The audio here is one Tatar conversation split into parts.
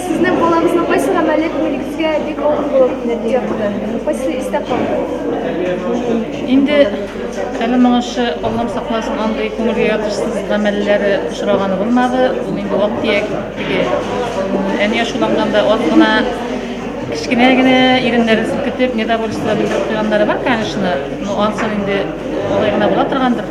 Сезнең балагызның кайсы гамәле күңелегезгә бик авыр булып ятты? Кайсы истә калды? Инде әле моңынчы Аллам сакласын андый күңелгә ятышсыз гамәлләре очраганы булмады. Ул инде вак тияк теге әния шуланганда аз гына кечкенә генә иреннәрен селкетеп недовольство белдереп куйганнары бар, конечно, но ансын инде алай гына була торгандыр.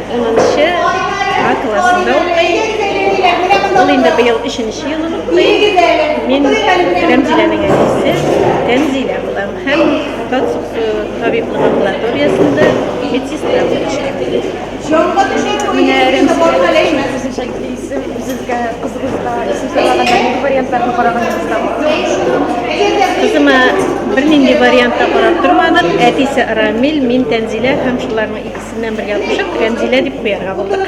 Унынчы А классында укый. Ул инде быел өченче елын укый. Мин Рәмзиләнең әнисе Тәнзилә булам һәм Татсуксу табиблык амбулаториясендә медсестра булып эшлим. Менә Рәмзилә үзенчәлекле исем, сезгә кызыгызга исем сайлаганда нинди вариантларны караганыгызда? Кызыма бернинди вариантта карап тормадым. Әтисе Рамил, мин Тәнзилә һәм шуларның икесе Синнән бер язышып, Рәмзилә дип куярга булдык.